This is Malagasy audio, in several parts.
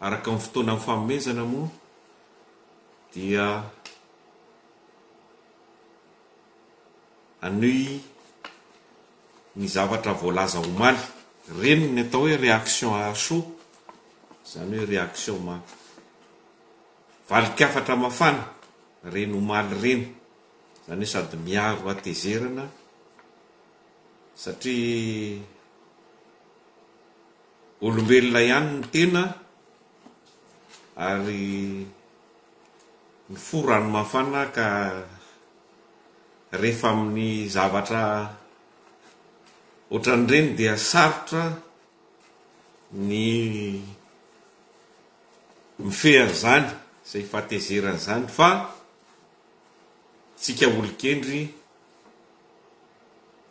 Araka ny fotoana nifanomezana moa dia hanohy ny zavatra voalaza omaly. Ireny ny atao hoe réaction à chaud, izany hoe réaction ma valin-kafatra mafana ireny omaly ireny. Izany hoe sady miaro hatezerana satria Olombelona ihany ny tena ary mifoha ranomafana ka rehefa amin'ny zavatra ohatran'ireny dia sarotra ny mifehy an'izany izay fahatezerana izany fa tsika olon-kendry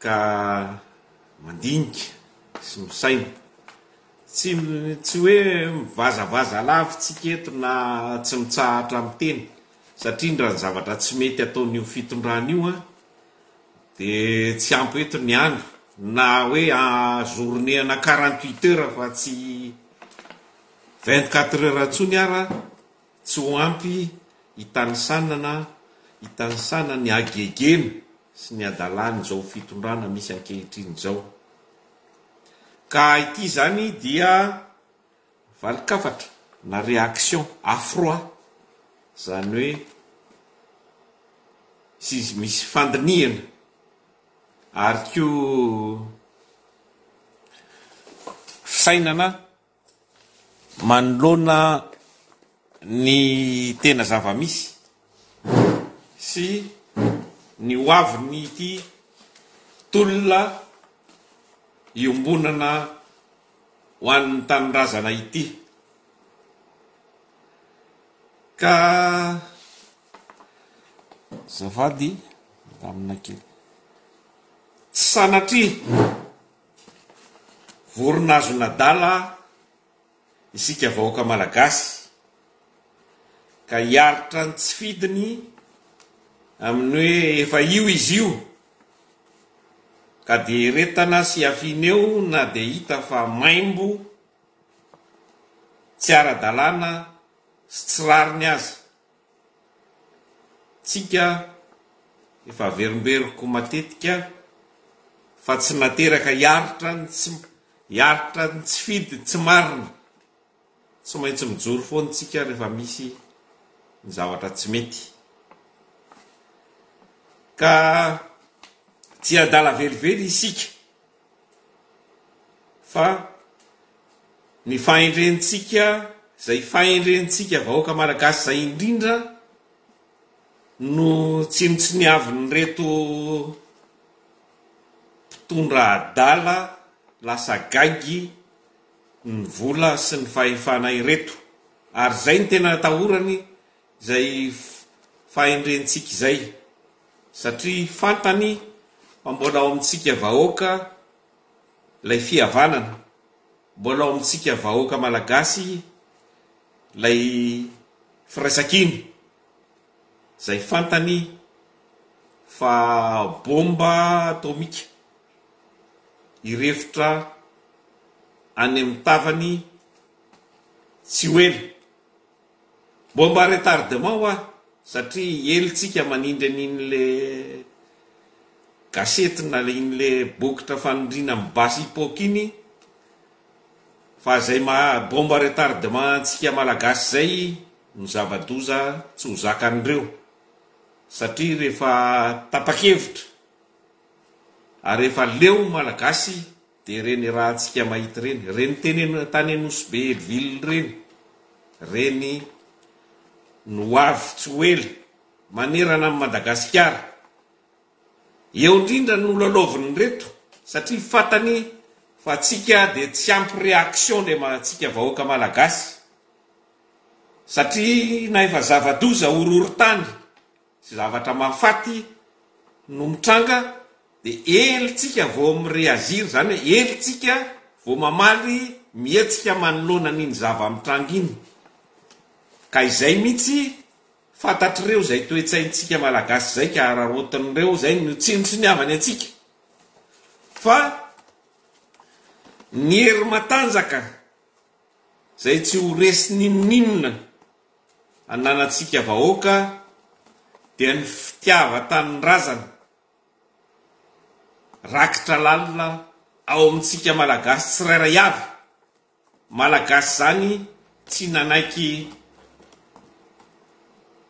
ka mandinika sy misaina, tsy tsy hoe mivazavaza alavintsika eto na tsy mitsahatra miteny satria ndra ny zavatra tsy mety ataon'io fitondrana io an de tsy ampy eto ny andro na hoe journée ana quarante huit heures fa tsy vingt quatre heures intsony ara Tsy ho ampy hitanisanana hitanisana ny hagegena sy ny hadalan'izao fitondrana misy ankehitriny izao. Ka ity izany dia valin-kafatra na réaction à froid, izany hoe tsy misy fandinihana ary koa fisainana Manoloana ny tena zava-misy sy ny ho avin'ity tolona iombonana ho an'ny tanindrazana ity ka tsy sanatria Vorona azon'adala isika vahoaka malagasy ka hiaritra ny tsy fidiny amin'ny hoe efa io izy io ka dia eretana sy afina eo na dia hita fa maimbo, tsy ara-dalàna sy tsy rariny aza. Tsika efa averimberiko matetika fa tsy nateraka hiaritra ny tsy hiaritra ny tsy fidy tsy marina. Tsy maintsy mijoro foana tsika rehefa misy ny zavatra tsy mety. Ka tsy adala velively isika. fa ny fahendrentsika izay fahendrentsika vahoaka malagasy izay indrindra no tsinontsiniavin'ireto mpitondra adala lasa gaigy ny vola sy ny fahefana ireto ary izay no tena atahorany izay fahendrentsika izay satria fantany fa mbola ao amintsika vahoaka ilay fihavanana, mbola ao amintsika vahoaka malagasy ilay firaisankina izay fantany fa bomba atomika hirefotra any amin'ny tavany tsy ho ela. Bomba retardement hoa satria ely tsika manindry an'iny le gasety na iny le bokotra fanindriana amin'ny basy hipoka iny fa zay maha bomba retardement antsika malagasy zay no zava-doza tsy ho zakan'ireo satria rehefa tapa-kevitra ary efa leo malagasy Dia ireny raha tsika mahita ireny, ireny teny tany Anosibe ville ireny, ireny no ho avy tsy ho ela, manerana an'i Madagasikara. Eo indrindra no lalaovin'ireto satria fatany fa tsika dia tsy ampy réaction le tsika vahoaka Malagasy satria na efa zava-doza horohorontany Tsy zavatra mahafaty no mitranga de ely tsika vao mi reagir zany hoe ely tsika vao mamaly mihetsika manoloana an'iny zava mitranga iny ka izay mihitsy fantatr'ireo izay toe-tsaintsika malagasy izay ka araraotin'ireo izay no tsinontsiniavany antsika fa ny hery matanjaka izay tsy ho resy n'inon'inona. Ananantsika vahoaka dia ny fitiavan-tanindrazana rakitra lalina ao amintsika Malagasy tsirairay avy, Malagasy izany tsy nanaiky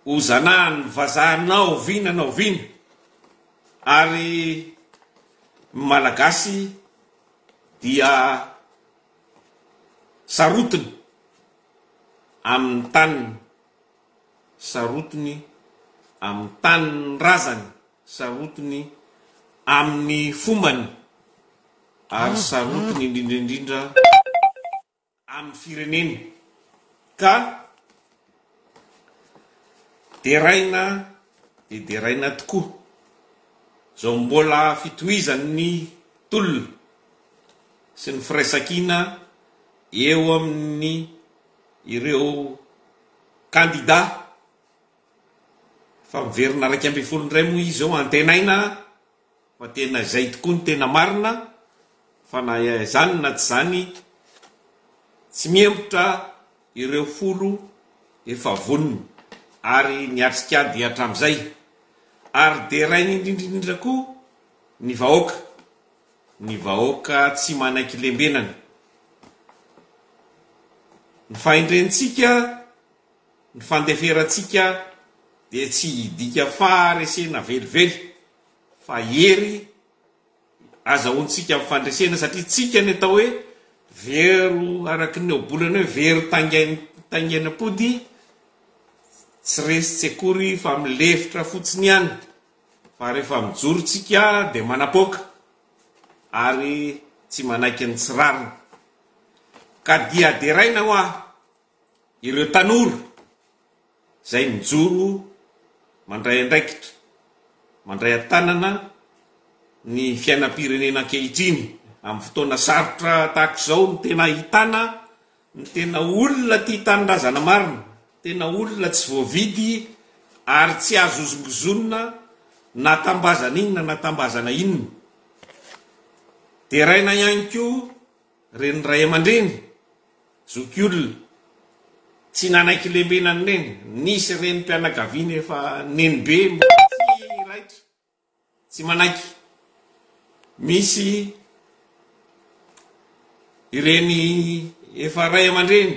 ho zanahan'ny vazaha na oviana na oviana ary ny Malagasy dia sarotiny amin'ny taniny, sarotiny amin'ny tanin'ny razany, sarotiny amin'ny fombany, ary sarotiny indrindra indrindra amin'ny fireneny, ka deraina dia deraina tokoa izao mbola fitohizan'ny tolona sy ny firaisankina Eo amin'ny ireo kandida efa miverina iraika ambin'ny folo indray moa izy izao, antenaina fa tena izay tokoa no tena marina fa na izany na tsy izany tsy mihemotra ireo folo efa vonona ary niatrika ady hatramin'izay ary derainy indrindra indrindra koa ny vahoaka. ny vahoaka tsy manaiky lembenana, ny fahendrentsika, ny fandeferantsika dia tsy hidika faharesena velively fa hery azahoantsika amin'ny fandresena satria tsika ny atao hoe vero araky ny ohabolana hoe vero taingenam-pody tsy resy tsy akory fa milefitra fotsiny ihany. Fa rehefa mijoro tsika dia manapoaka ary tsy manaiky ny tsy rariny. Ka dia deraina hoa ireo tanora izay mijoro mandray andraikitra, mandray an-tanana ny fiainam-pirenena ankehitriny. Amin'ny fotoana sarotra tahaka izao no tena ahitana Ny tena olona tia tanindrazana marina, tena olona tsy voavidy ary tsy azo hozongozonina na tambazana inona na tambazana inona. Deraina ihany koa reny ray aman-dreny zokiolona tsy nanaiky lembenan'ny neny. Nisy renim-pianakaviana efa nenibe mbola tsy raitra. Tsy manaiky. Misy ireny efa ray aman-dreny,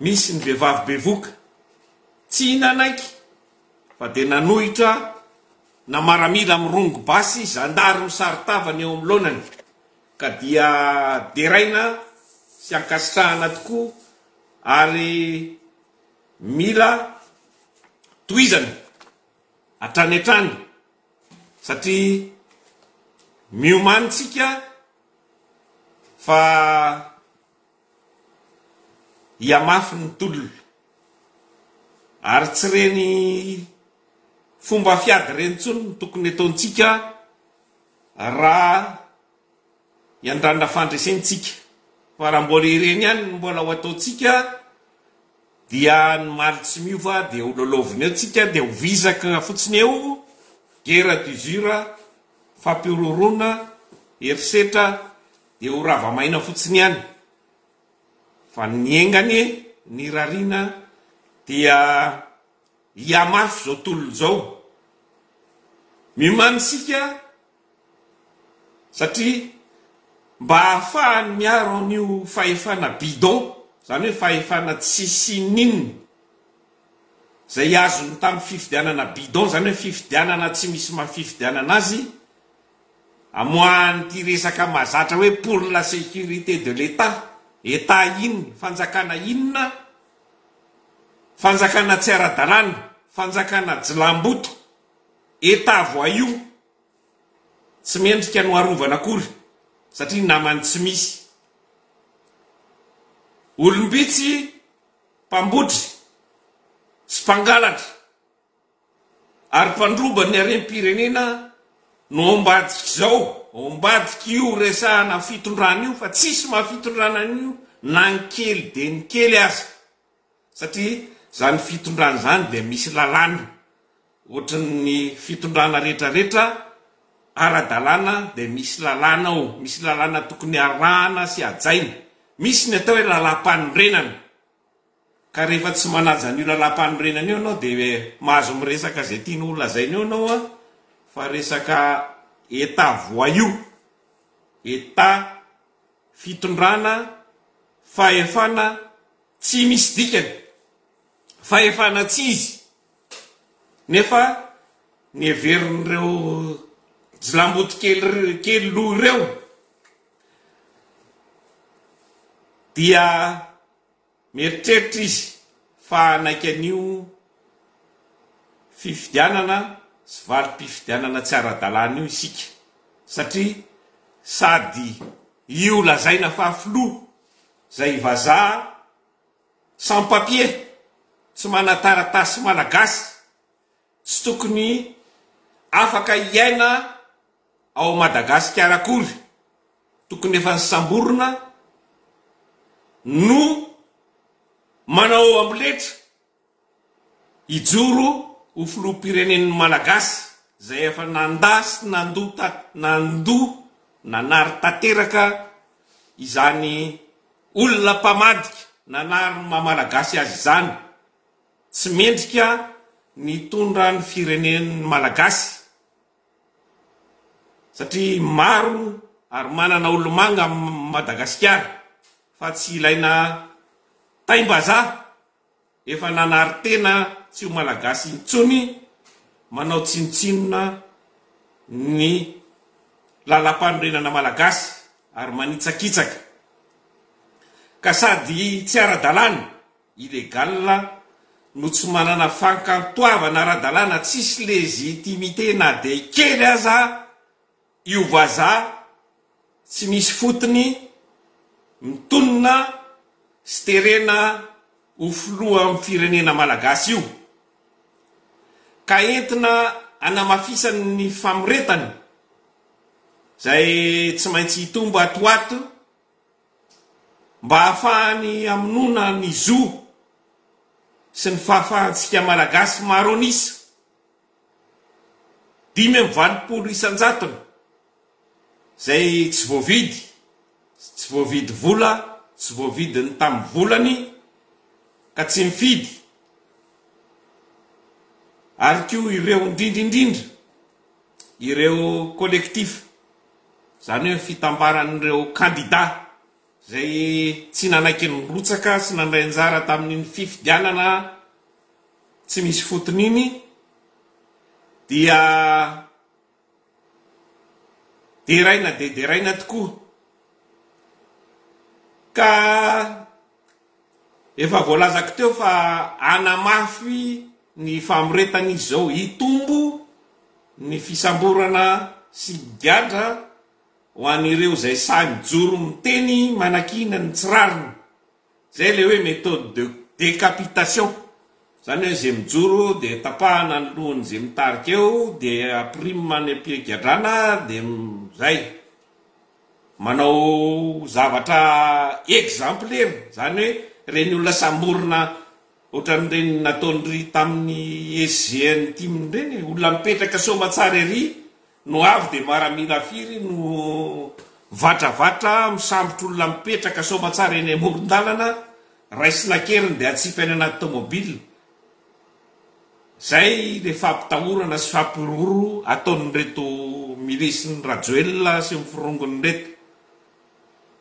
misy ny vehivavy bevoka, tsy nanaiky fa dia nanohitra na maramila mirongo basy, zandary misaron-tava ny eo amin'ny laonany ka dia deraina sy ankasitrahana tokoa ary mila tohizana. hatrany hatrany satria miomany tsika fa hihamafy ny tolona ary tsy reny fomba fiady reny tsony ny tokony ataontsika raha Hiandrandra fandresentsika, fa raha mbola ireny ihany no mbola ho ataontsika dia ny maly tsy miova dia ho lalaovina eo tsika dia ho vizaka fotsiny eo, guerre d'usure, fampihorohoroana, herisetra dia ho rava maina fotsiny ihany, fa ny enga anie ny rarina dia hihamafy izao tolona izao, miomany isika. satria mba hahafahany miaro an'io fahefana bidon, izany hoe fahefana tsisy ininona, izay azony tamin'ny fifidianana bidon, izany hoe fifidianana tsy misy maha fifidianana azy, amoahan'ity resaka mahazatra hoe pour la sécurité de l'Etat, Etat inona, fanjakana inona, fanjakana tsy ara-dalàna, fanjakana jilamboto, Eta voix io tsy mendrika no arovana akory satria namany tsy misy. Olombitsy mpambotry sy mpangalatra ary mpandroba ny harem-pirenena no ao mbadik'izao, ao mbadik'io resahana fitondrana io fa tsisy maha fitondrana an'io na ny kely dia ny kely aza. Satria izany fitondrana izany dia misy lalàna, ohatran'ny fitondrana rehetra rehetra ara-dalàna dia misy lalàna ao, misy lalàna tokony harahana sy hajaina. Misy ny atao hoe lalàmpanorenana, ka rehefa tsy manaja an'io lalàmpanorenana io ianao dia mahazo miresaka izay tianao ho lazaina eo ianao fa resaka Etat voyou, Etat fitondrana, fahefana, Tsy misy dikany fa efa natsizy nefa ny heverin'ireo jilamboto kely loha ireo dia mieritreritra izy fa hanaiky an'io fifidianana sy valim-pifidianana tsy ara-dalàna io isika satria sady io lazaina fa filoha Zay vazaha sans papier tsy manataratasy malagasy tsy tokony afaka hiaina ao Madagasikara akory tokony efa nisamborina no manao amboletra. Hijoro ho filoham-pirenen'ny Malagasy izay efa nandà sy nandoa nandoa nanary tanteraka izany olona mpamadika nanary ny maha Malagasy azy izany, tsy mendrika ny hitondra ny firenen'ny Malagasy satria maro ary manana olomanga Madagasikara fa tsy ilaina taim-bazaha Efa nanary tena tsy ho Malagasy intsony manao tsinontsinona ny Lalampanorenana Malagasy ary manitsakitsaka. Ka sady tsy ara-dalàna, illégal, no tsy manana fankantoavana ara-dalàna tsisy légitimité na dia kely aza Io vazaha tsy misy fotony mitonona sy terena ho filohan'ny firenena malagasy io ka entina hanamafisany ny famoretany izay tsy maintsy hitombo ato ho ato mba hahafahany hamonoana ny zo sy ny fahafahantsika malagasy maro an'isa Dimy amby valopolo isan-jatony izay tsy voavidy, tsy voavidy vola, tsy voavidy ny tamin'ny volany ka tsy mifidy ary koa ireo indrindra indrindra ireo collectif, izany hoe ny fitambaran'ireo kandida izay tsy nanaiky nirotsaka sy nandray anjara tamin'iny fifidianana tsy misy fotony iny dia deraina dia deraina tokoa ka efa voalazako teo fa hanamafy ny famoretana izy izao, hitombo ny fisamborana sy ny gadra. ho an'ireo izay sahy mijoro miteny manakiana ny tsy rariny, izay ilay hoe méthode de décapitation, izany hoe izay mijoro dia tapahana ny lohan'izay mitarika eo dia apirima any am-pigadrana dia izay, manao zavatra exemplaire, izany hoe ireny olona samborina ohatran'ireny nataon'iry tamin'ny SGN tim ireny, olona mipetraka soamatsara ery No avy dia maramila firy no vatravatra misambotr'olona mipetraka soamatsara eny amoron-dalana, raisina an-keriny dia atsipy any anaty tomobile. Izay ilay fampitahorana sy fampihorohoro ataon'ireto milisin'i Rajoelina sy ny forongony ireto.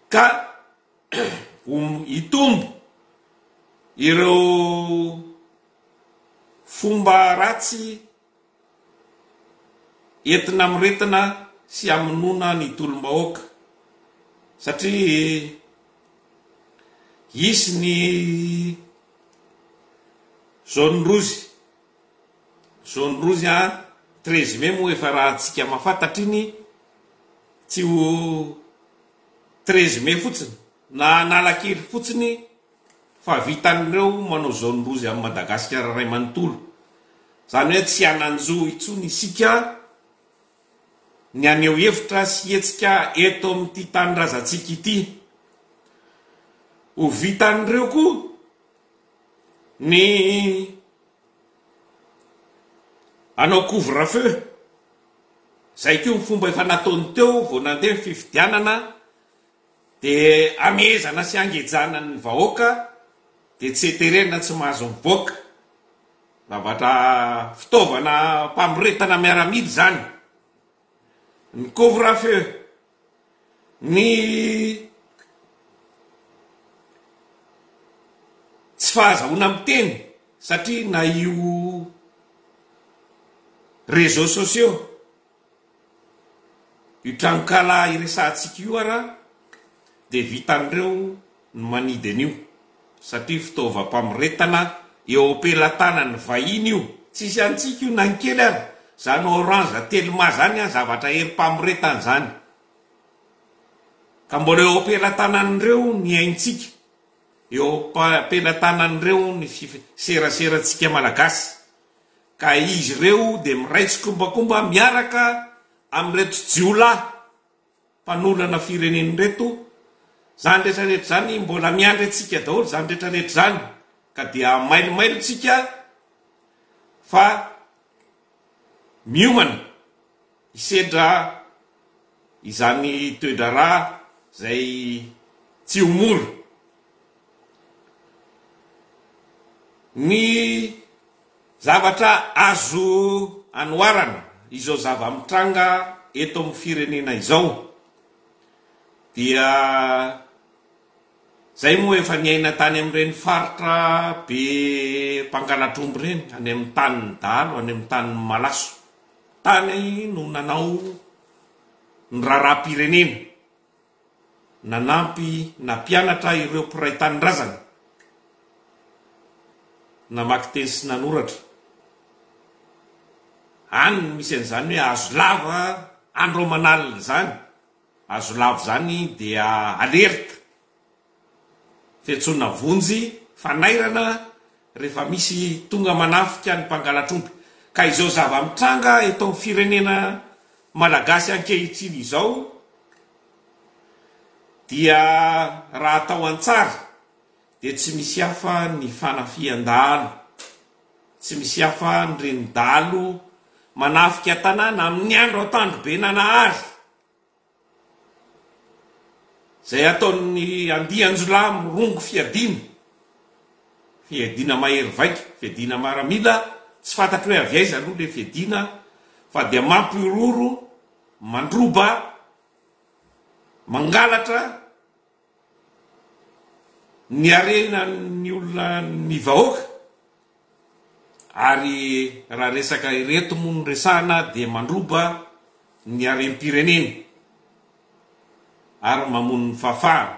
Ka ho hitombo ireo fomba ratsy Entina hamoretana sy hamonoana ny tolom-bahoaka satria hisy ny zone rozy, zone rozy an, treize mai moa efa raha antsika mahafantatra iny tsy ho treize mai fotsiny na analakely fotsiny. fa vitan'ireo manao zaonin-doza amin'i Madagasikara iray manontolo. Izany hoe tsy hanan-jo intsony isika ny haneho hevitra sy hetsika eto amin'ity tanindrazantsika ity. Ho vitan'ireo koa ny hanao couvre-feu. Izay koa ny fomba efa nataony teo vao nandeha ny fifidianana. Dia amehezana sy angejana ny vahoaka dia tsy heterena tsy mahazo miboaka. Zavatra fitaovana mpamoretana miaramila izany. Ny couvre feu, ny tsy fahazahoana miteny satria na io reseaux sociaux Io tranonkala iresahantsika io ara dia vitan'ireo ny manidy an'io satria fitaovam-pamoretana eo am-pelatanan'ny vahiny io. Tsisy antsika io na ny kely ara, zany orange telma zany an zavatra herim-pamoretana zany ka mbola eo am-pelatanan'ireo ny aintsika, eo am-pelatanan'ireo ny seraseratsika malagasy ka izy ireo dia miray tsikombakomba miaraka amin'ireto jiolahy mpanolana firenena ireto, izany rehetra rehetra izany mbola miandry antsika daholo izany rehetra rehetra izany ka dia hamailomailo tsika fa miomana. Hisedra izany toe-draharaha izay tsy ho mora ny zavatra azo anoharana izao zava-mitranga eto amin'ny firenena izao dia izay moa efa niaina tany amin'ireny faritra be mpangalatr'omby ireny, any amin'ny tanin'ny dahalo, any amin'ny tanin'ny malaso. Tany no nanao ny raharaham-pirenena, nanampy nampianatra ireo mpiray tanindrazana namaky teny sy nanoratra. Any no misy an'izany hoe hazo lava andro aman'alina izany, hazo lava izany dia alerte Fiantsoana vonjy fanairana rehefa misy tonga manafika ny mpangalatr'omby ka izao zava-mitranga eto amin'ny firenena Malagasy ankehitriny izao dia raha atao an-tsary dia tsy misy hafa ny fanafihan-dahalo, tsy misy hafa ny renidalo manafika tanàna amin'ny andro an-tandrobenanahary. Izay ataon'ny andian-jiolahy mirongo fiadiana, fiadiana mahery vaika, fiadiana maramila, tsy fantatro hoe avy aiza aloha ilay fiadiana fa dia mampihorohoro, mandroba, mangalatra, Ny harena ny olona ny vahoaka ary raha resaka ireto moa no resahana dia mandroba ny harem-pirenena ary mamono ny fahafahana.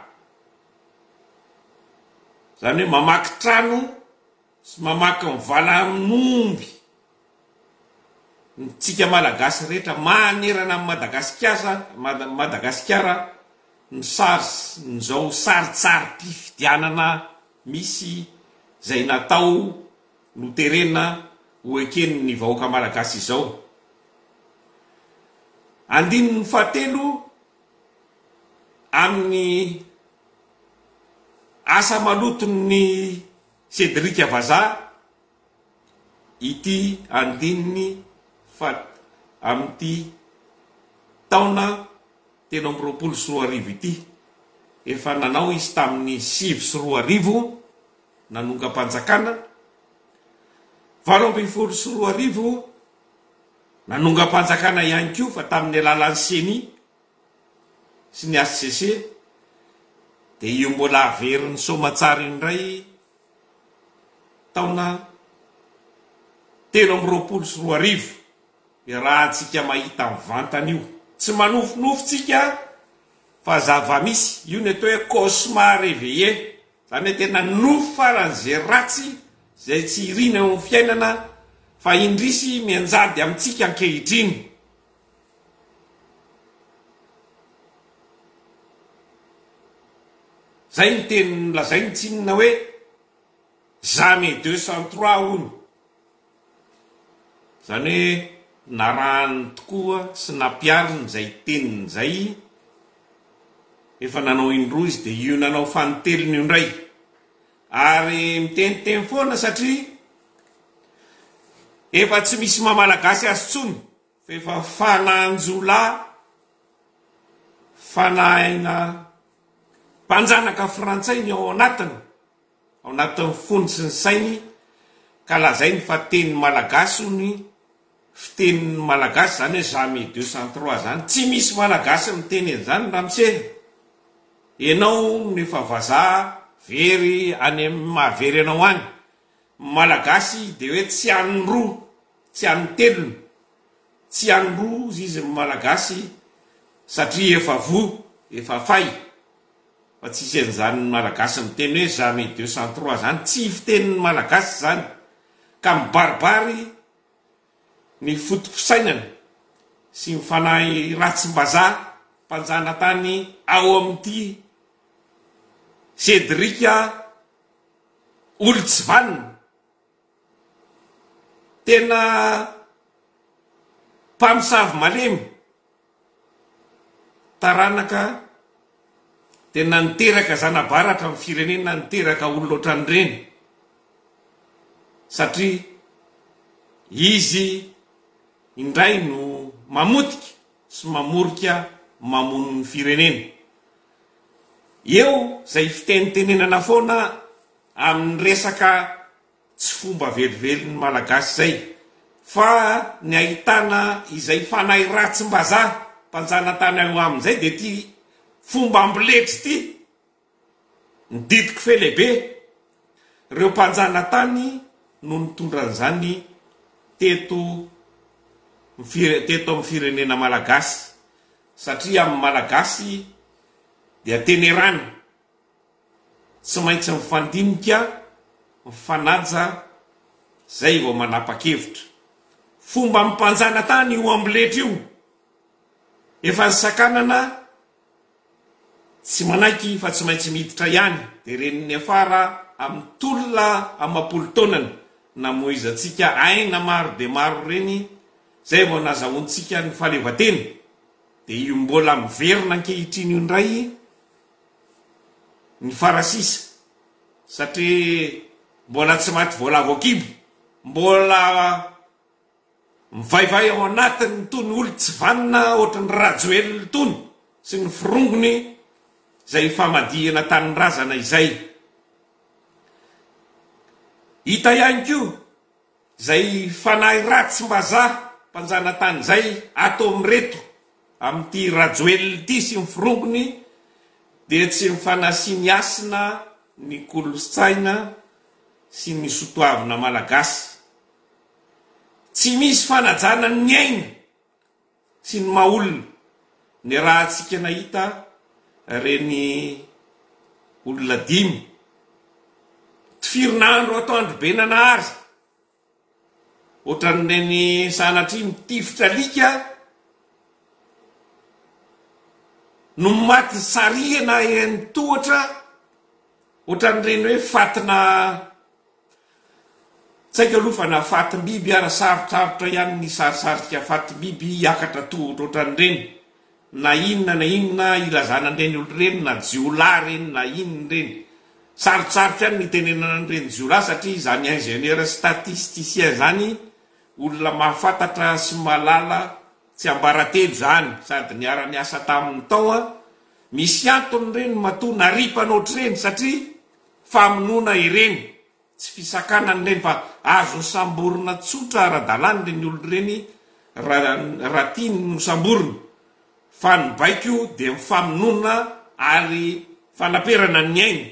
Izany hoe mamaky trano sy mamaky mivala amin'omby. ny tsika malagasy rehetra manerana an'i Madagasikiasa Madagasikara ny sars ny zao sarintsarim-pifidianana misy zay natao noterena ho eken'ny vahoaka malagasy izao andininy fahatelo amin'ny asa maloton'ny Cedric Vazaha ity andininy fat amin'ity taona telo amby roapolo sy roa arivo ity. Efa nanao izy tamin'ny sivy sy roa arivo nanongam-panjakana, valo ambin'ny folo sy roa arivo nanongam-panjakana ihany koa fa tamin'ny alalan'ny Ceni sy ny HCC dia io mbola averin'ny soamantsara io indray taona telo amby roapolo sy roa arivo dia rahantsika mahita mivantana io tsy manofinofy tsika fa zavamisy io ny atao hoe cauchemar reveillé zany hoe tena nofy farany ze ratsy zay tsy irina eo amin'ny fiainana fa indrisy mianjady amintsika ankehitriny Izay ny teny nolazain'i Tsinona hoe Jamais deux sans trois hono. Izany hoe narahany tokoa sy nampihariny izay teniny izay, efa nanao indroa izy dia io nanao fanintelony io indray. Ary miteniteny foana satria efa tsy misy maha-malagasy azy intsony F'efa fanahin-jiolahy, fanahina mpanjanaka frantsay ny ao anatiny, ao anatin'ny fony sy ny sainy ka lazainy fa teny malagasy hono fiteny malagasy zany hoe jamais deux sans trois zany, tsy misy malagasy miteny an'izany ramose, enao no efa vazaha very any mahavery anao any, ny malagasy de hoe tsy an'ny roa Tsy an'ny telony, tsy an'ny roz izy ny Malagasy satria efa voa, efa fay, fa tsy hisy an'izany ny Malagasy miteny hoe jamais deux sans trois zany, tsy fitenin'ny Malagasy izany ka mibaribary ny foto-pisainany sy ny fanahy ratsim-bazaha mpanjanatany ao amin'ity Cédric a, olo-tsy vanona. Tena mpamosavy malemy, taranaka tena niteraka zana-baratra amin'ny firenena niteraka olona ohatran'ireny satria izy indray no mamotika sy mamorika mamono ny firenena. Eo izay fitenitenenana foana amin'ny resaka tsy fomba velively malagasy izay fa ny ahitana izay fanahy ratsim-bazaha mpanjanatany ao aminy izay dia ity fomba amboletra ity ny didiko fe lehibe ireo mpanjanatany no nitondra an'izany teto teto amin'ny firenena malagasy satria amin'ny malagasy dia tenerana Tsy maintsy mifandinika, mifanaja, zay vao manapa-kevitra. Fomba ampanjana tany io amboletra io. Efa ny sakanana tsy manaiky fa tsy maintsy miditra ihany dia reny niafara amin'ny tolona amapolo taonany namoizantsika aina maro dia maro reny zay vao nazahoantsika ny fahaleovatena dia io mbola miverina ankehitriny io indray ny farasisa satria mbola tsy maty voalavo an-kibo, mbola mivaivay ao anatiny itony olon tsy vanona ohatran'i Rajoelina itony sy ny forongony izay hifamadihana tanindrazana izay. Hita ihany koa. Zay fanahy ratsy mbazaha mpanjanatany zay ataony reto amin'ity Rajoelina ity sy ny firongony dia tsy ny fanasiny hasina ny kolotsaina sy ny sotoavina malagasy. Tsy misy fanajana ny aina. Tsy ny maha olona ny rahantsika nahita ireny olona dimy tifirina andro ato Androbenanahary, ohatran'ireny sanatria mitifitra alika no maty sarihana eny tohatra, ohatran'ireny hoe fatina. Tsaiko aloha fa na fatim-biby ara sarotsarotra ihany ny sarisarika fatim-biby hiakatra tohotro ohatran'ireny, na inona na inona ilazana an'ireny olona ireny na jiolahy ireny na inona ireny. Sarotsarotra ihany ny hitenenana an'ireny jiolahy satria izany ingénieur statisticien izany olona mahafantatra sy mahalala tsiambaratelo izany sady niara-niasa taminy tao an, misy antony ireny matoa naripana ohatr'ireny satria. famonoana ireny, tsy fisakanana ireny fa azo hosamborina tsotra ara-dalàna ireny olona ireny raha tiany hosamborina fa ny baiko dia ny famonoana ary fanaperana ny ainy.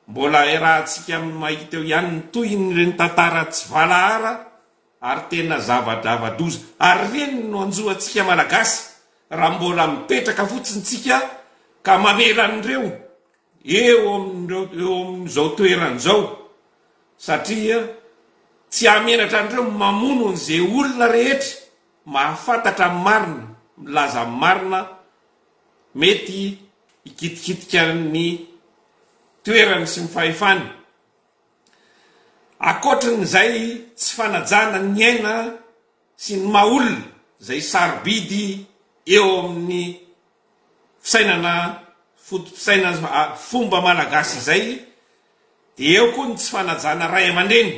Mbola iarahantsika mahita eo ihany ny tohin'ireny tantara tsy valahara ary tena zava-drava-doza ary ireny no hanjo antsika Malagasy raha mbola mipetraka fotsiny tsika ka mamela an'ireo eo amin'izao toerana izao satria tsy hahamenatra an'ireo mamono an'izay olona rehetra mahafantatra ny marina, milaza ny marina, mety hikitikitika ny toerany sy ny fahefany. Ankoatrin'izay tsy fanajana ny aina sy ny maha olona izay sarobidy eo amin'ny fisainana foto-pisaina fomba malagasy izay dia eo koa ny tsy fanajana ray aman-dreny,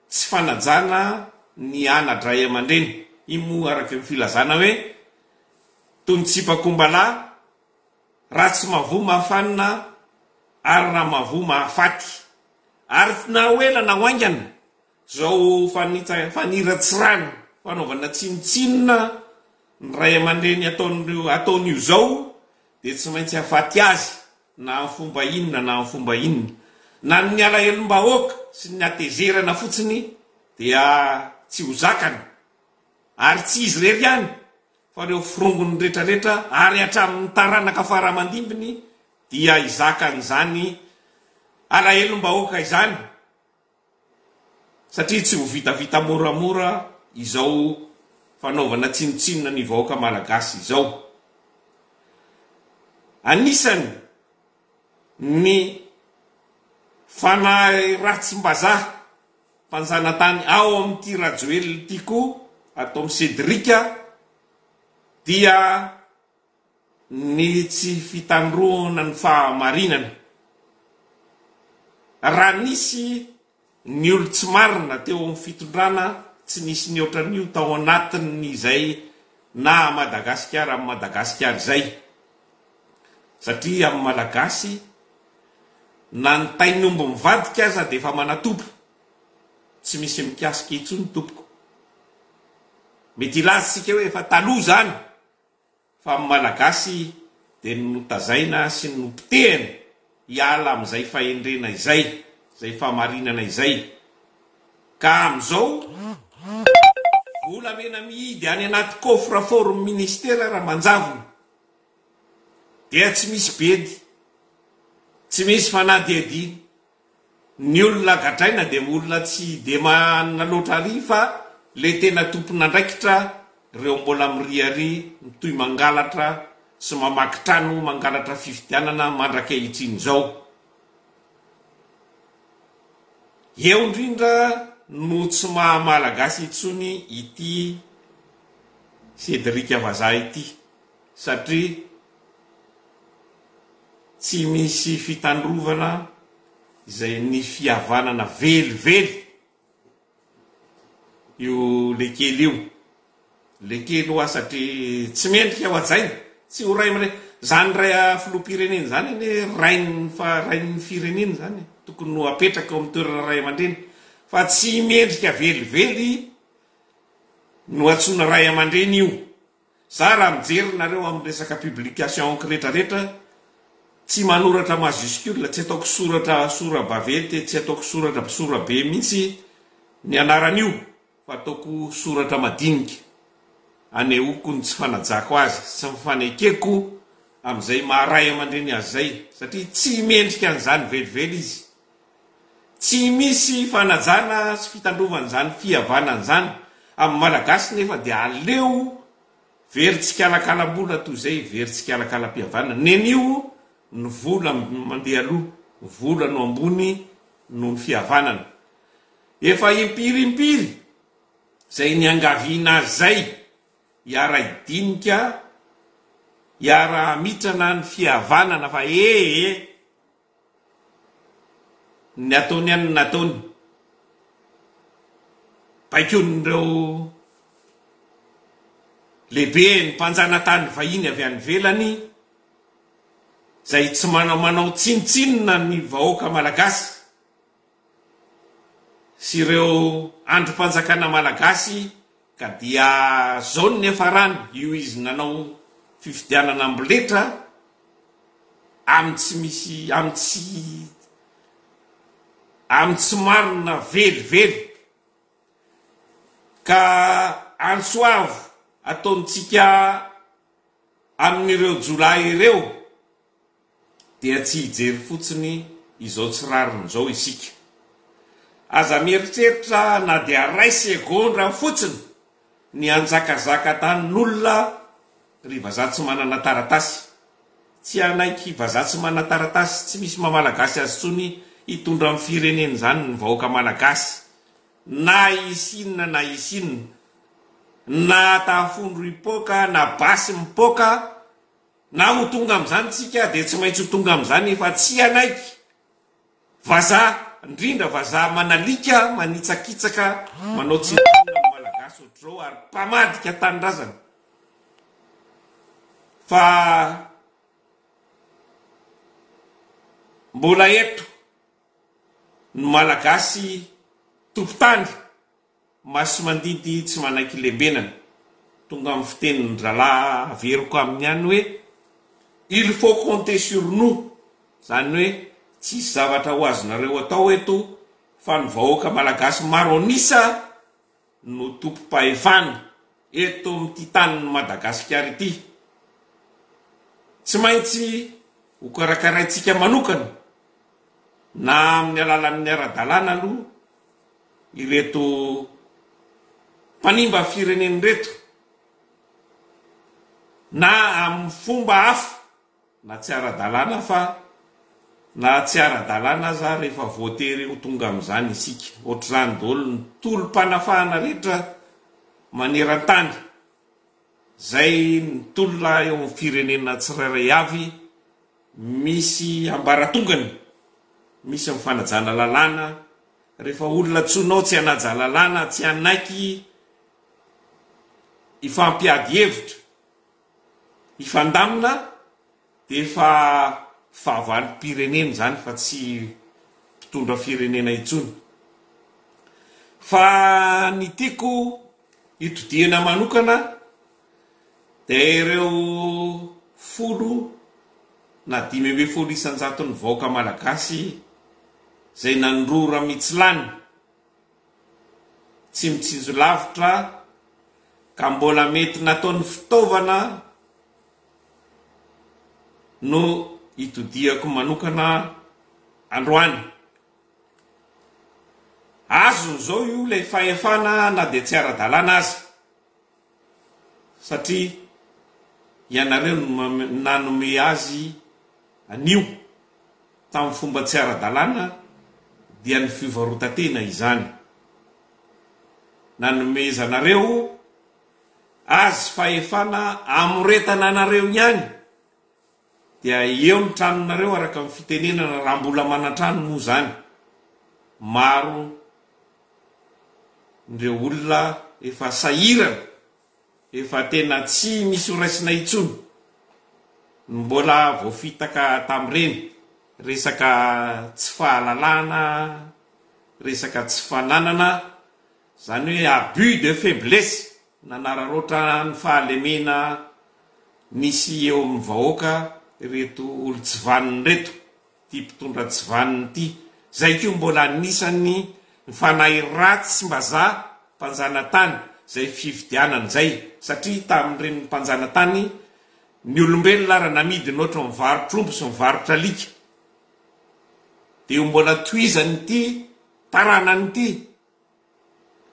tsy fanajana ny ana-dray aman-dreny, iny moa araka ny filazana hoe toy ny tsipakombalahy raha tsy mavoa mahafanina ary raha mavoa mahafaty ary na ho ela na ho haingana Izao faniratsirana, fanaovana tsinontsinona ny ray aman-dreny ataon'io izao dia tsy maintsy hahafaty azy na amin'ny fomba inona na amin'ny fomba inona. Na ny alahelom-bahoaka sy ny hatezerana fotsiny dia tsy ho zakany. Ary tsy izy irery ihany fa ireo forongony rehetrarehetra ary hatramin'ny taranaka fara aman-dimbiny dia hizaka an'izany alahelom-bahoaka izany. Satria tsy ho vitavita moramora izao fanaovana tsinontsinona ny vahoaka Malagasy izao. Anisany ny fanahy ratsim-bazaha mpanjanatany ao amin'ity Rajoelina ity koa, atao Cedric, dia. ny tsy fitandroana ny fahamarinana. Raha nisy ny olon-tsy marina teo amin'ny fitondrana tsy nisy nihoatra an'io tao anatin'izay naha Madagasikara an'i Madagasikara izay, satria amin'ny Malagasy na ny tain'omby mivadika aza dia efa manatompo, tsy misy mikasika intsony tompoko. Mety hilaza isika hoe efa taloha izany. fa ny Malagasy dia ny notazaina sy ny nopotehina hiala amin'izay fahendrena izay, izay fahamarinana izay, ka amin'izao volamena mihidy any anaty coffre fort-n'ny Ministera raha manjavona dia tsy misy bedy, tsy misy fanadihadiana. Ny olona gadraina dia olona tsy dia mahanina loatra ary fa le tena tompon'andraikitra reo mbola miriaria mitohy mangalatra sy mamaky trano mangalatra fifidianana mandrakehitrin zao eo indrindra no tsy maha malagasy intsony ity Cédric vazaha ity satria Tsy misy fitandrovana izay ny fihavanana velively io lekely io. Lekely hoa satria tsy mendrika ho hajaina. Tsy ho ray amre. Zany ray a filoham-pirenena zany anie rain'ny fa rain'ny firenena zany e. Tokony ho apetraka eo amin'ny toerana ray aman-dreny. Fa tsy mendrika velively no antsoina ray aman-dreny io. Za raha mijery nareo amin'ny resaka publication encre rehetra rehetra tsy manoratra majuscule tsy ataoko soratra sora bavety tsy ataoko soratra sora be mintsy ny anaran'io fa ataoko soratra madinika anehoako ny tsy fanajako azy sy ny fanekeko amin'izay maha ray aman-dreny azy izay satria tsy mendrika an'izany velively izy Tsy misy fanajana sy fitandrovana izany fihavanana izany amin'ny Malagasy nefa dia aleo very tsikalakalam-bola toy izay very tsikalakalam-pihavanana. Nenio ny vola mandeha aloha, ny vola no ambony noho ny fihavanana. Efa impiry impiry izay niangaviana azy izay hiara-hidinika, hiara-hamitrana ny fihavanana fa ee! Ny nataony any no nataony. Baikoin'ireo lehibe ny mpanjanatany vahiny avy any ivelany izay tsy manamanao tsinontsinona ny vahoaka malagasy. sy ireo andrim-panjakana malagasy ka dia zao ny niafarany io izy nanao fifidianana amboletra amin'ny tsy misy amin'ny tsy amin'ny tsy marina velively ka antso avo ataontsika amin'ireo jiolahy ireo dia tsy hijery fotsiny izao tsy rariny izao isika. Aza mieritreritra na dia iray segondra fotsiny ny hanjakazaka tanin'olona ry vazaha tsy manana taratasy. Tsy hanaiky vazaha tsy manana taratasy tsy misy maha Malagasy azy intsony hitondra ny firenena izany ny vahoaka Malagasy na hisy inona na hisy inona, na tafondro hipoaka na basy mipoaka. Na ho tonga amin'izany tsika dia tsy maintsy ho tonga amin'izany efa tsy hanaiky. Vazaha, indrindra vazaha manalika, manitsakitsaka, manao tsinanona ny Malagasy ohatr'izao ary mpamadika tanindrazana. Fa mbola eto ny Malagasy tompon-tany Masimandidy tsy manaiky lembenana. Tonga amin'ny fitenin-dralahy averiko aminy ihany hoe, Il faut compter sur nous, izany hoe tsisy zavatra ho azonareo atao eto fa ny vahoaka malagasy maro an'isa no tompom-pahefana eto amin'ity tanin'i Madagasikara ity. Tsy maintsy ho karakaraintsika manokana na amin'ny alalan'ny ara-dalàna aloha. Ireto mpanimba firenena ireto na amin'ny fomba hafa na tsy ara-dalàna fa na tsy ara-dalàna aza rehefa voatery ho tonga amin'izany isika. Ohatr'izany daholo ny tolom-panafahana rehetra maneran-tany. Izay mitolona eo amin'ny firenena tsirairay avy misy ambaratongany, misy amin'ny fanajana lalàna, rehefa olona antsoinao tsy hanaja lalàna, tsy hanaiky hifampiady hevitra, hifandamina dia efa fahavalom-pirenena izany fa tsy mpitondra firenena intsony. Fa ny tiako Itodihana manokana dia ireo folo na dimy ambin'ny folo isan-jaton'ny vahoaka malagasy izay nanorora mitsilany tsy mitsinjo lavitra ka mbola mety nataony fitaovana no itodihako manokana androany. Azony zao io ilay fahefana na dia tsy ara-dalàna aza satria ianareo no nanome azy an'io tamin'ny fomba tsy ara-dalàna dia ny fivarotan-tena izany. Nanomezanareo azy fahefana amoretana anareo ihany Dia eo ny tranonareo araka ny fitenenana raha mbola manan-trano moa izany. Maro ireo olona efa sahirana, efa tena tsy misy ho raisina intsony no mbola voafitaka tamin'ireny. Resaka tsy fahalalahana, resaka tsy fananana. Izany hoe abus de faiblesse nanararaotra ny fahalemena nisy eo amin'ny vahoaka ireto olon-tsy vanona ireto, ity mpitondra tsy vanona ity, izay koa mbola anisan'ny ny fanahy ratsy mbazaha mpanjanatany izay fifidianana izay, satria tamin'ireny mpanjanatany ny olombelona ary namidiny ohatra mivarotr'omby sy mivarotr'alika, dia ho mbola tohizan'ity taranany ity.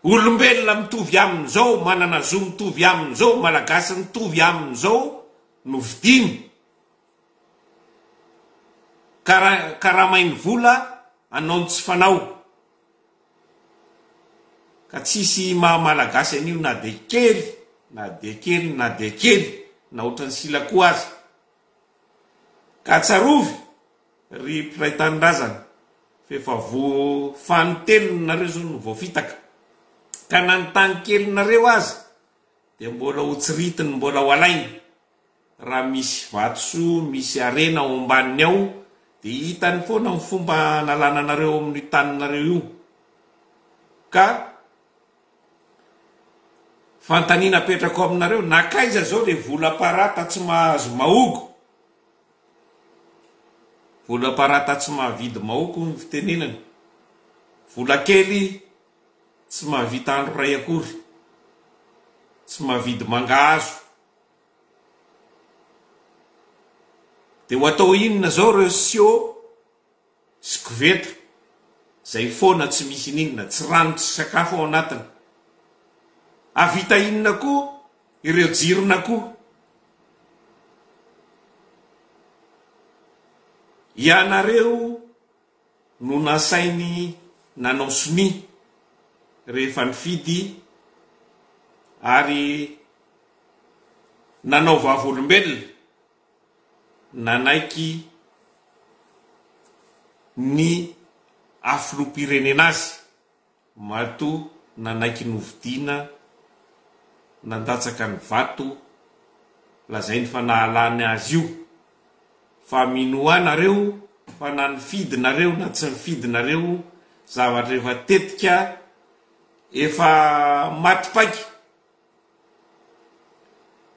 Olombelona mitovy aminy zao, manana zo mitovy aminy zao, malagasy mitovy aminy zao no vidiny. Kara karamainy vola anaony tsy fanao. Ka tsisy maha malagasy an'io na de kely na de kely na de kely na otrany sila koa aza. Ka tsarovy Ry mpiray tanindrazana, fa efa voafanin telony nareo zao no voafitaka, ka na ny tany kelinareo aza dia mbola ho tsiritiny mbola ho alainy, raha misy vatosoa misy harena ao ambaniny ao dia hitany foana ny fomba analana anareo ao amin'io taninareo io, ka fantanina apetrako aminareo, nakaiza zao le vola parata tsy mahazo mahogo, Vola parata tsy mahavidy maoko hono ny fitenenana. Vola kely tsy mahavita andro iray akory. Tsy mahavidy mangahazo. Dia ho atao inona izao ireo siô? sy koveta izay foana tsy misy n'inona, tsy rano tsy sakafo ao anatiny. Hahavita inona koa ireo jiron'akoho? Ianareo no nasainy nanao sonia rehefa nifidy ary nanao vavolombelona. nanaiky ny ha filoham-pirenena azy matoa nanaiky novidiana nandatsaka ny vato lazainy fa nahalany azy io fa mino ahy nareo fa na nifidy nareo na tsy nifidy nareo zavatra efa tetika efa maty paika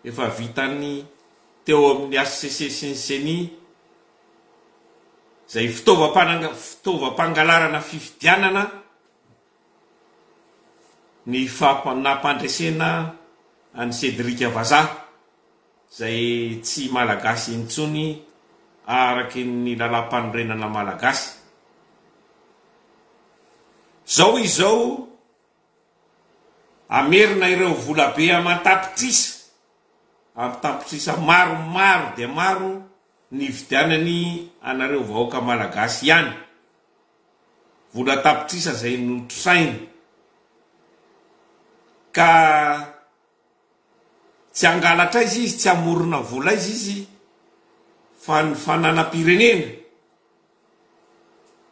Efa vitan'ny teo amin'ny hcc sy ny ceni izay fitaovam-pangalarana fifidianana ny nampandresena an'i Cédric Vazaha izay tsy Malagasy intsony araka ny Lalàmpanorenana Malagasy. Izao izao. Hamerina ireo volabe aman-tapitrisa ampy tapitrisa maro maro dia maro nividianany anareo vahoaka Malagasy ihany. Vola tapitrisa izay notrosainy ka Tsy hangalatra aiza izy, tsy hamorona vola aiza izy fa ny fananam-pirenena.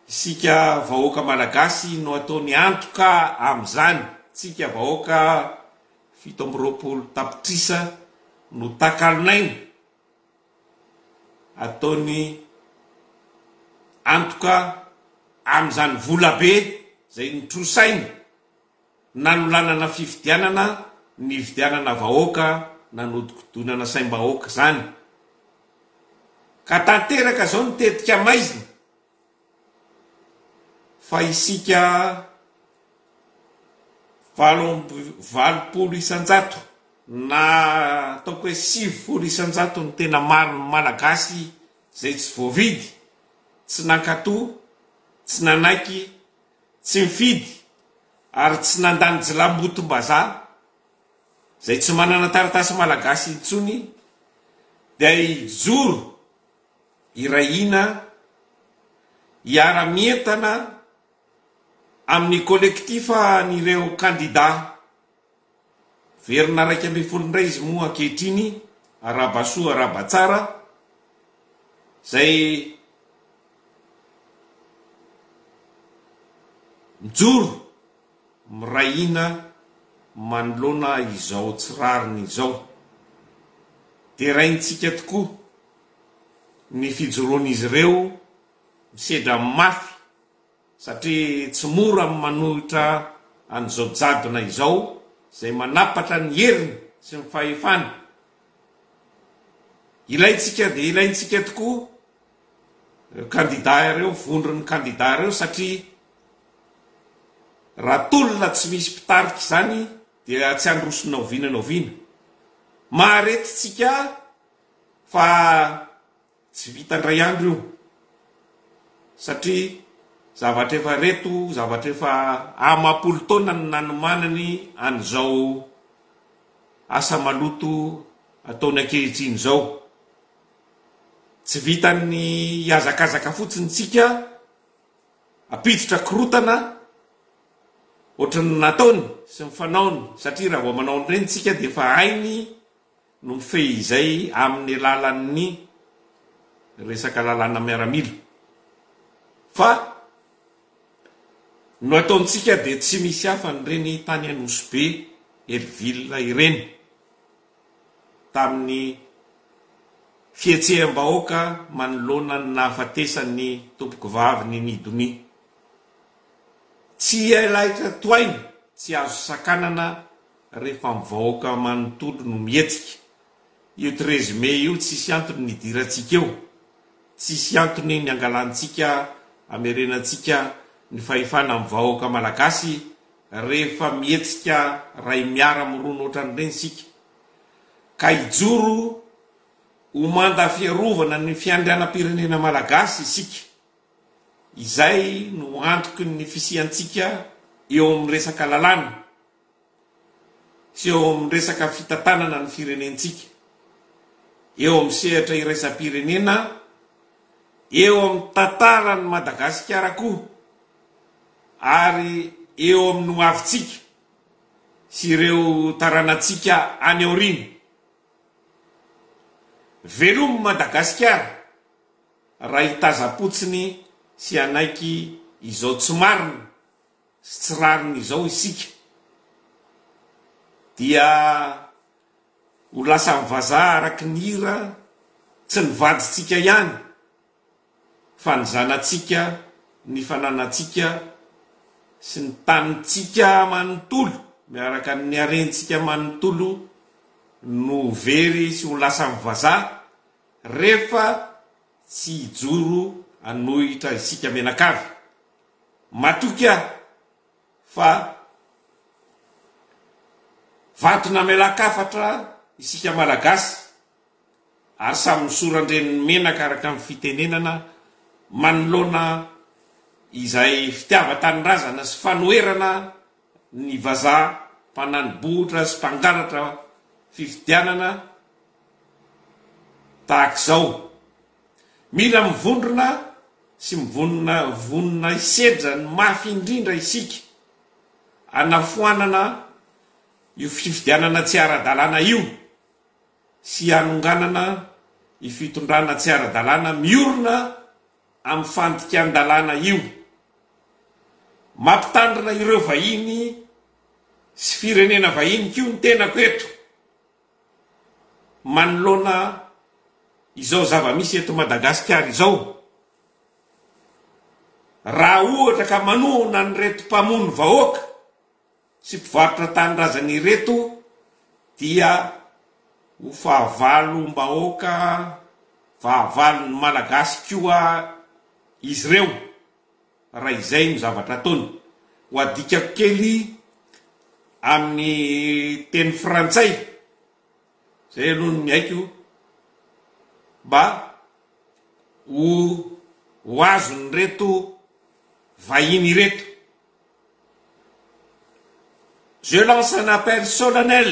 Isika vahoaka malagasy no ataony antoka amin'izany. Tsika vahoaka fito amby roapolo tapitrisa no takalon'aina ataony antoka amin'izany volabe izay notrosainy nanolanana fifidianana, nividianana vahoaka, nanodikodinana saim-bahoaka izany. Ka tanteraka izao ny tetika maizina fa isika valo amby valopolo isan-jato na ataoko hoe sivifolo isan-jato ny tena maron'ny Malagasy izay tsy voavidy, tsy nankato, tsy nanaiky, Tsy nifidy ary tsy nandany jilambotom-bazaha izay tsy manana taratasy malagasy intsony dia hijoro iray hina hiara-mientana amin'ny kolektifan'ireo kandidà. Verina iraika ambin'ny folo indray izy moa ankehitriny, arahaba soa arahaba tsara, izay mijoro miray hina manoloana izao tsy rariny izao. Deraintsika tokoa ny fijoroan'izy ireo misedra mafy. satria tsy mora amin'ny manohitra an'izao jadona izao izay manapatra ny heriny sy ny fahefany. Ilaintsika dia ilaintsika tokoa ireo kandidà ireo, vondron'ny kandidà ireo satria raha tolona tsy misy mpitarika izany dia tsy handroso na oviana na oviana. Maharetintsika fa. Tsy vita indray andro io satria zavatra efa reto, zavatra efa amam-polo taona no nanomanany an'izao asa maloto ataony ankehitriny izao. Tsy vitan'ny hihazakazaka fotsiny isika hampiditra korotana ohatran'ny nataony sy ny fanaony satria raha vao manao an'ireny isika dia efa hainy no mifehy izay amin'ny alalan'ny resaka lalàna miaramila fa no ataontsika dia tsy misy hafa an'ireny tany Anosy Be, Hellville ireny tamin'ny fihetseham-bahoaka manoloana ny nahafatesan'ny tompokovavy ny Nidonia. Tsy elaitra tohaina, tsy azo sakanana. rehefa ny vahoaka manontolo no mihetsika, io treize mai io tsisy antony nidirantsika eo, tsisy antony niangalantsika hamerenantsika ny fahefana amin'ny vahoaka malagasy rehefa mihetsika ray miara mirona ohatran'ireny isika ka hijoro ho manda fiarovana ny fiandrianam-pirenena malagasy isika, izay no antoky ny fisiantsika eo amin'ny resaka lalàna. sy eo amin'ny resaka fitantanana ny firenentsika, eo amin'ny sehatra iraisam-pirenena, eo amin'ny tantaran'i Madagasikara koa ary eo amin'ny hoavintsika sy ireo taranatsika any aoriana. Velomy Madagasikara raha hitazam-potsiny sy hanaiky izao tsy marina. sy tsy rariny izao isika dia ho lasan'ny vazaha araky ny hira tsy ny vadintsika ihany fa ny zanatsika, ny fananantsika sy ny tanintsika manontolo miaraka amin'ny harentsika manontolo no ho very sy ho lasan'ny vazaha rehefa tsy hijoro hanohitra isika mianakavy. Matoky aho fa vato namelan-kafatra isika Malagasy ary samy misoran-dreniny menaka araka ny fitenenana manoloana izay fitiavan-tanindrazana sy fanoherana ny vazaha mpanani bohitra sy mpangalatra fifidianana tahaka izao. Mila mivondrona sy mivonona vonona hisedra ny mafy indrindra isika hanafoanana io fifidianana tsy ara-dalàna io sy hanonganana io fitondrana tsy ara-dalàna miorina amin'ny fandikan-dalàna io mampitandrina ireo vahiny sy firenena vahiny koa ny tenako eto. manoloana izao zava-misy eto Madagasikara izao, raha ohatra ka manohana an'ireto mpamono vahoaka sy mpivarotra tanindrazana ireto dia ho fahavalom-bahoaka, fahavalon'ny Malagasy koa izy ireo Raha izay no zavatra ataony. Ho adikako kely amin'ny teny frantsay, izay aloha ny haiko, mba ho ho azon'ireto vahiny ireto. Je lance un appel solennel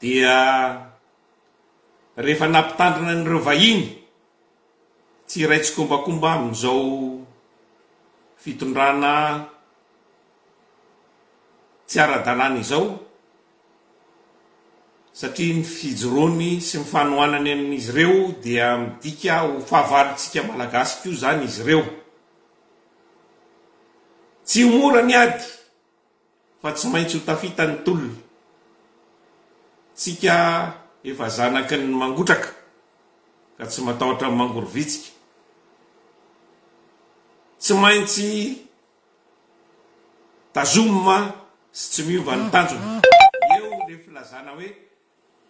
dia rehefa nampitandrina an'ireo vahiny tsy hiray tsikombakomba amin'izao fitondrana tsy ara-dalàna izao satria ny fijoroany sy ny fanohanany amin'izy ireo dia midika ho fahavalontsika Malagasy koa izany izy ireo. Tsy ho mora ny ady. fa tsy maintsy ho tafita ny tolona. Tsika efa zanaky ny mangotraka ka tsy matahotra ny mangorovitsika. Tsy maintsy tazomina sy tsy miova ny tanjona. Eo le filazana hoe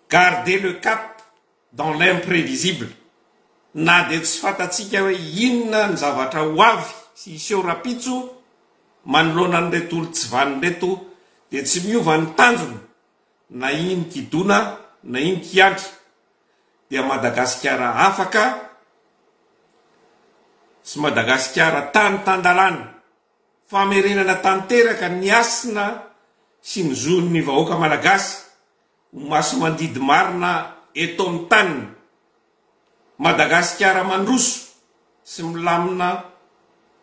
garder le cap. dans l'imprévisible, na dia tsy fantatsika hoe inona ny zavatra ho avy sy hiseho rapitso, manoloana an'ireto olon-tsy vanona ireto dia tsy miova ny tanjona na iny kidona na iny kiandry dia Madagasikara afaka sy Madagasikara tany tan-dalàna, famerenana tanteraka ny hasina sy ny zon'ny vahoaka malagasy. Ho masimandidy marina eto amin'ny taniny. Madagasikara mandroso sy milamina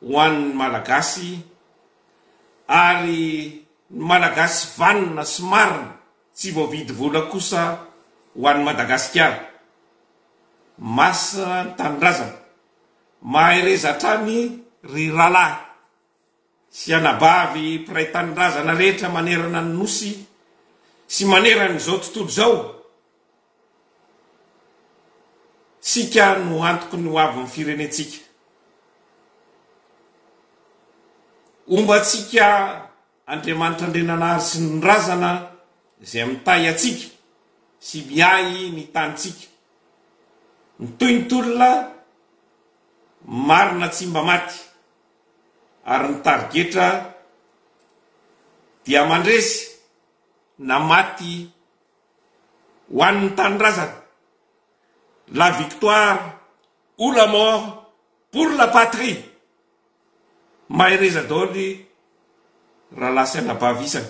ho an'ny Malagasy ary ny Malagasy vanona sy marina tsy voavidy vola kosa ho an'i Madagasikara. Masina ny Tanindrazana. Mahereza hatrany ry rahalahy. sy anabavy mpiray tanindrazana rehetra manerana ny Nosy sy manerana izao tontolo izao, tsika no antoky ny hoavin'ny firenentsika. Homba antsika Andriamanitra Andriananahary sy ny Razana izay mitahy antsika sy miahy ny tanintsika. Mitohy ny tolona marina tsy mba maty. ary ny tarigetra dia mandresy na maty ho an' ny tanindrazana, la victoire ou la mort pour la patrie! Mahereza daholo rahalahy sy anabavy isany.